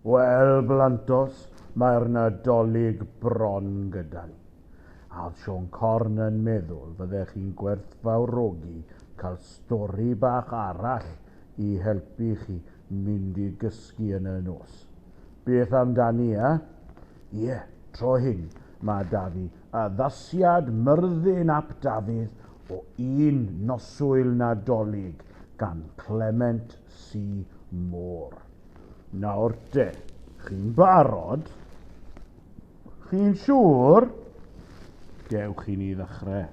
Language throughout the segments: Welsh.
Wel, blantos, mae'r Nadolig bron gyda ni. A oedd Sean Corn yn meddwl fyddech chi'n gwerthfawrogi cael stori bach arall i helpu chi mynd i gysgu yn y nos? Beth amdani, e? Ie, tro hyn, mae da fi addasiad Myrddin ap Dafydd o Un Noswyl Nadolig gan Clement C. Moore. Nawr de, chi'n barod? Chi'n siŵr? Dewch i ni ddechrau.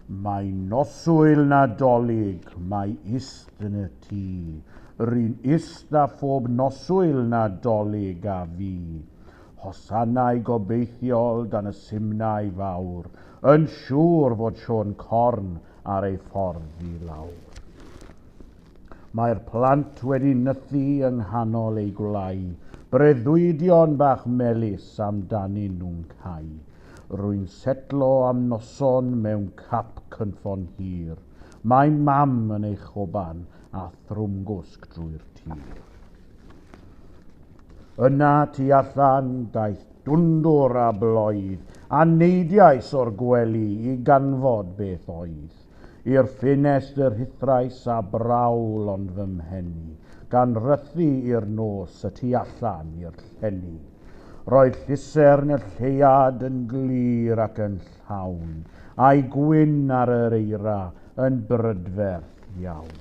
Mae noswyl Nadolig, mae ist yn y tŷ. Ry'n ist â phob noswyl Nadolig a fi. Hosanau gobeithiol dan y simnai fawr, yn siŵr fod Siôn Corn ar ei ffordd i lawr. Mae'r plant wedi nythu yng nghanol eu gwlai, breuddwydion bach melys amdanyn nhw'n cau. Rwy'n setlo am noson mewn cap cynffon hir, mae Mam yn ei choban a thrwmgwsg drwy'r tir. Yna tu allan daeth dwndwr a bloedd, a neidiais o'r gwely i ganfod beth oedd. I'r ffenestr rhuthrais a brawl ond fy mhen i, gan rythu i'r nos y tu allan i'r llenni. Roedd llusern y lleuad yn glir ac yn llawn, a'i gwyn ar yr eira yn brydferth iawn.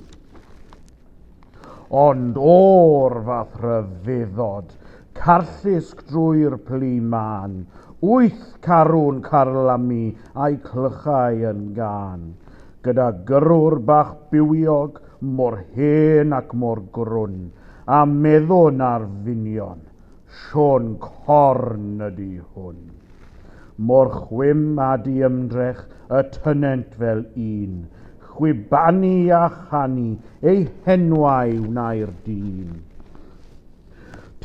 Ond o'r fath rhyfeddod, carllusg drwy'r plu mân, wyth carw'n carlamu a'u clychau yn gân, gyda gyrrwr bach bywiog, mor hen ac mor grwn, a meddwn ar ddynion, Siôn corn ydi hwn. Mor chwim a diymdrech y tynent fel un, chwibanu a chanu eu henwau wnai'r dyn.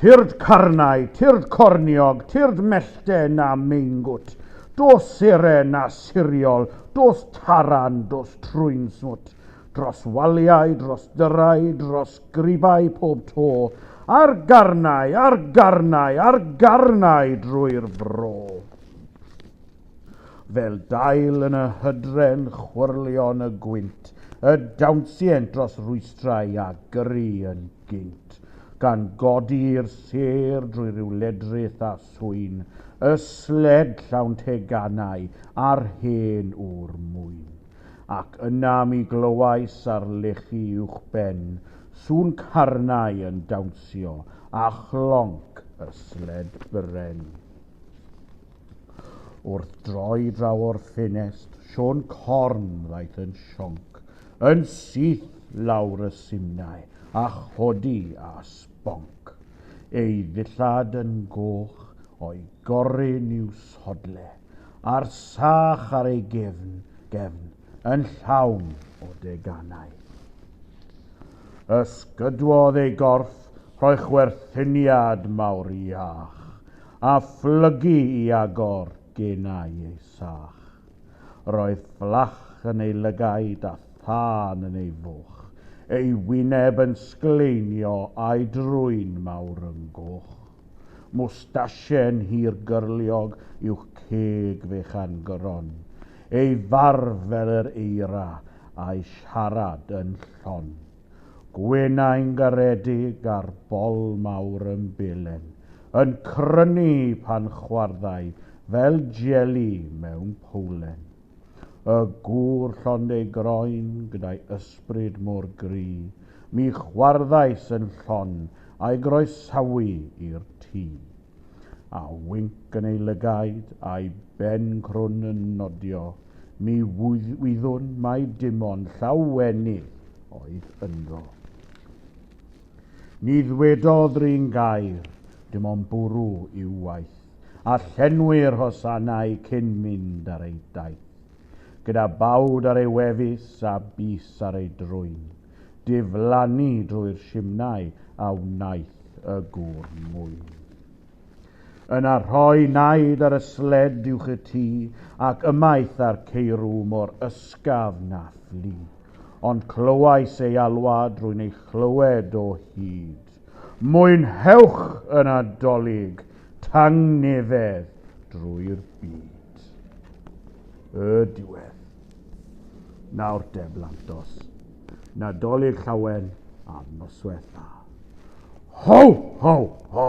Tyrd carnau, tyrd corniog, tyrd mellten na meingwt, dos seren na siriol, dos taran, dos trwyn smwt, dros waliau, dros dyrau, dros Grybai pob to, ar garnau, ar garnau, ar garnau drwy'r fro. Fel dail yn y hydren chwyrlion y gwynt, y dawnsient dros rwystrau a gyrru yn gynt, gan godi'r sêr drwy ryw ledrith a swyn, y sled llawn teganau a'r hen ŵr mwyn. ac yna mi glywais ar lechi uwchben sŵn carnau yn dawnsio a chlonc y sled bren. Wrth droi draw o'r ffenest, Siôn Corn ddaeth yn sionc, yn syth lawr y simnai a chodi a sbonc. Ei ddillad yn goch, o'i gorun i'w sodle. a'r sach ar ei gefn, gefn yn llawn o deganau. Ysgydwodd ei gorff rhoi chwerthyniad mawr iach, a phlygu i agor genau ei sach. Roedd fflach yn ei lygaid a thân yn ei fwch, ei wyneb yn sgleinio a'i drwyn mawr yn goch. Mwstasien hir gyrliog i'w ceg fechan gron. Ei farf fel yr eira, a'i siarad yn llon. Gwenau'n garedig a'r bol mawr yn belen, yn crynu pan chwarddai fel jeli mewn powlen. Y gŵr llond ei groen gyda'i ysbryd mor gry, mi chwarddais yn llon a'i groesawu i'r tŷ. A winc yn ei lygaid, a'i ben crwn yn nodio, mi wyddwn mai dim ond llawenydd oedd ynddo. Ni ddwedodd 'run gair, dim ond bwrw i'w waith. a llenwi'r hosanau cyn mynd ar ei daith. Gyda bawd ar ei wefus a bys ar ei drwyn, diflannu drwy'r simnai a wnaeth y gŵr mwyn. Yna rhoi naid ar y sled uwch y tŷ, ac ymaith â'r ceirw mor ysgaf na fflu, ond clywais ei alwad rwy'n ei chlywed o hyd. Cymorth. Mwynhewch y Nadolig tangnefedd drwy'r byd. Y diwedd. Nawr de, Blantos. Nadolig llawen a noswaith dda. Ho, ho, ho!